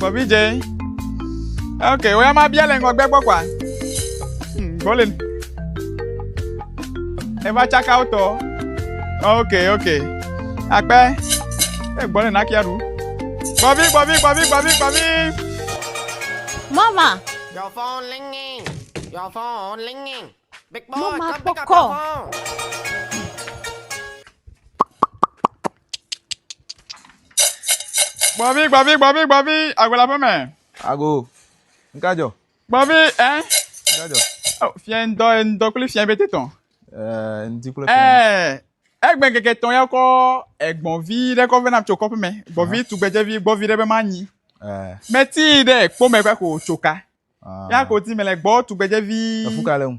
Bɔbi dze. Ok, wo ya ma bia le ŋgɔgbe gbɔ kwa. Hmm, Golden. Eva tsaka wotɔ. Ok, ok. Akpɛ. E eh, Golden akia ɖu. Bɔbi, bɔbi, bɔbi, bɔbi, bɔbi. Mama. Your phone ringing. Your phone ringing. Big boy, Mama, come pick up your phone. Gbɔvi, gbɔvi, gbɔvi, gbɔvi, agbola ƒe me. Ago, ŋka dzɔ? Gbɔvi, ɛ? Ŋka dzɔ? Oh, fiɛ ŋdɔ, ŋdɔ kple fiɛ bete tɔn. Ɛɛ, ŋdi kple fiɛ. Ɛɛ, egbe keke tɔn ya kɔ egbɔvi ɖe kɔ vena tso kɔƒe me. Gbɔvi tu gbedzevi, gbɔvi ɖe be ma nyi. Ɛɛ. Meti ɖe kpɔ me kɔ ko tso ka. Ah. Ya ko ti me le gbɔ tu gbedzevi. Efuka le ŋu.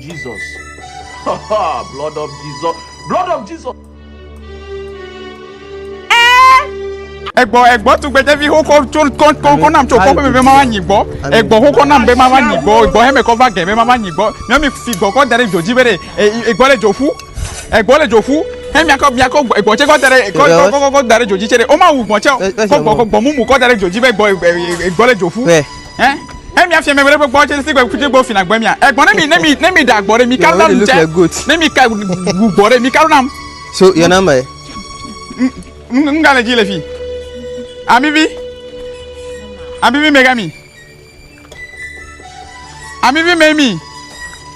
Jesus blood of Jesus blood of Jesus. egbɔ egbɔ tugbedzevi xokɔ tso kɔnkɔ nam tso kɔƒe bebe mama nyi gbɔ egbɔ xokɔ nam be mama nyi gbɔ egbɔ hɛmɛ kɔ va gɛ be mama nyi gbɔ nyɔmi si gbɔ kɔ da ɖe dzodzi be ɖe egbɔ le dzo ƒu egbɔ le dzo ƒu hɛ miakɔ miakɔ egbɔ tse kɔ da ɖe kɔ kɔ kɔ kɔ da ɖe dzodzi tse ɖe woma wu gbɔ tse kɔ gbɔ kɔ gbɔ mumu kɔ da ɖe dzodzi be egbɔ egbɔ le dzo ƒu. Eh? Ne mi afia mi wele gbɔ tse tse gbɔ tse gbɔ fina gbɔ mia. Egbɔ ne mi ne mi ne mi da gbɔ ɖe mi ka nam tse. Ne mi ka gu gbɔ ɖe mi ka nam. So your number ye? N ka le dzi le fi. Amivi. Amivi mega mi. Amivi mega mi.